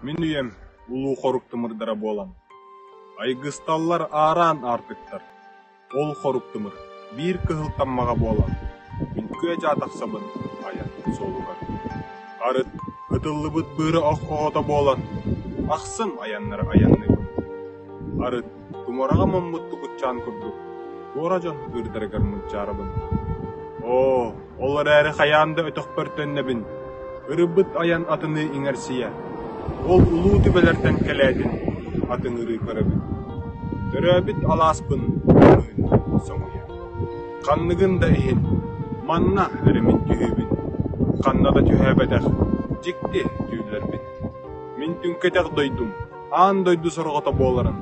Мин үйэм улуу-хорук тымырдара буолан, айгысталлар аараан аартыктар. Ол хорук тымыр биир кыһыл таммаҕа буолан, үҥкүө-дьаа тахсабын айан суолугар. Арыт ытыллыбыт быыра ох оҕото буолан, ахсын айаннары айанныыбын. Арыт Тумараҕа муммуттук ыччаан курдук туора дьон ытыырдарыгар мунчаарабын «Оо, ол эрээри хайаан да өтөхпөр төннөбүн, ырыбыт айан атыныы иҥэрсийэ, ол улуу түбэлэртэн кэлээтин, атыҥырыы көрөбүн, төрөөбүт алааспын көмүһүн соҥуйа, ханныгын да иһин, манна эримин түһүүбүн, ханна да түһээбэтэх, дьикти түүллэрбин, мин түҥкэтэх дойдум, Аан дойду сорҕото буоларын,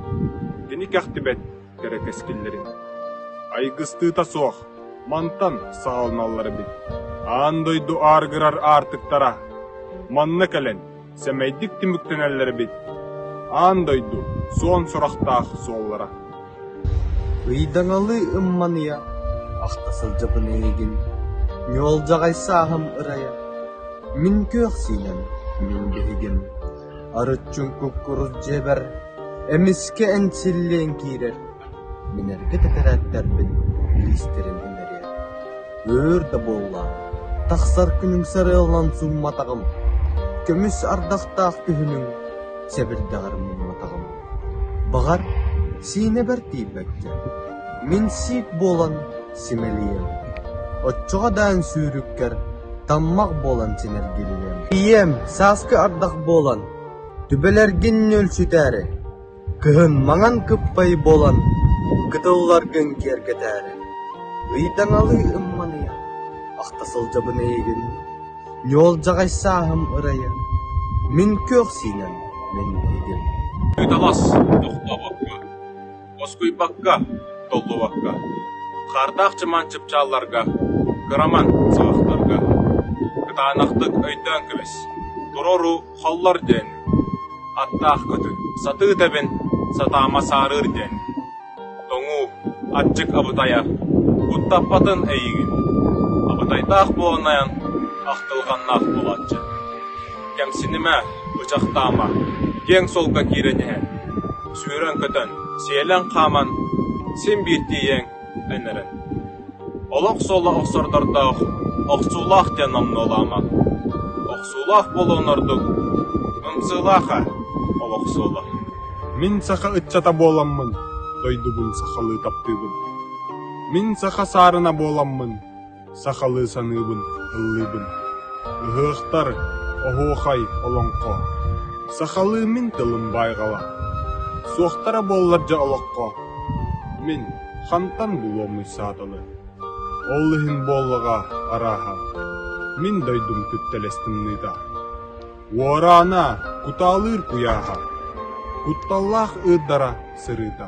кини кэхтибэт кэрэ кэскиллэрин. Айгыстыыта суох, мантан саҕаланаллар эбит. Аан дойду ааргырар аартыктара манна кэлэн сэмэйдик түмүктэнэллэр эбит. Аан дойду суон сурахтаах суоллара. Ыйдаҥалы ымманыйа, ахта сылдьабын эйигин, ньуолдьаҕай сааһым ырайа, мин күөх сиинэн, мин гиһигин. Арыччым куккурус дьиэбэр, эмискэ энсиллиэн киирэр, мин эргэ тэтэрээттэрбин илиистэрин имэрийэр, өөр да буоллаҕым, тахсар күнүҥ сарыаланан сумматаҕым, көмүс ардахтаах күһүнүҥ сэбирдэҕэр муҥнатаҕым. Баҕар, Сиинэбэр тиийбэккэ, мин сиик буолан симэлийиэм. Оччоҕо даан сүүрүккэр таммах буолан синэргилиниэм. Ийэм сааскы ардах буолан, түбэлэргин нүөлсүтээри, кыһын маҥан кыппай буолан, кытылларгын киэргэтээри, ыйдаҥалыы ымманыйа, ахта сылдьабын эйигин, ньуолдьаҕай сааһым ырайа, мин күөх сиинэн мин игин. Ыйдалас, тохтообокко. Москуйбакка, Толлубакка, Хаардаах Чымаан чыпчаалларга, кыраман сабахтарга кытаанахтык өйдөөн кэбис, туруору холлор диэн, аттаах көтү сатыы тэбин, сатаама саарыыр диэн, тоҥуу, аччык абытайа куттаппатын эйигин, абытайдаах буолунайан ахтылҕаннаах буолааччы. Кэмсинимэ, бычахтаама, киэҥ суолга киирэн иһэ, сүүрэн-көтөн, сиэлэн-хааман син биир тиийиэҥ эн эрэн. Олох суола охсордордоох охсуулаах диэн номнуолаама. Охсуулаах буолуон ордук ымсыылааха олох суола. Мин саха ыччата буоламмын, дойдубун сахалыы таптыыбын. Мин саха саарына буоламмын, Сахалыы саныыбын, ыллыыбын. Ыһыахтар, оһуохай, олоҥхо. Сахалыы мин тылым байҕала. Суохтара буоллар дьэ олоххо. Мин хантан булуомуй сааталы. Ол иһин буоллаҕа арааһа. Мин дойдум түптэлэстимнита. Уораана, кутаалыыр куйааһа. Кутталлаах ыырдара сырыыта.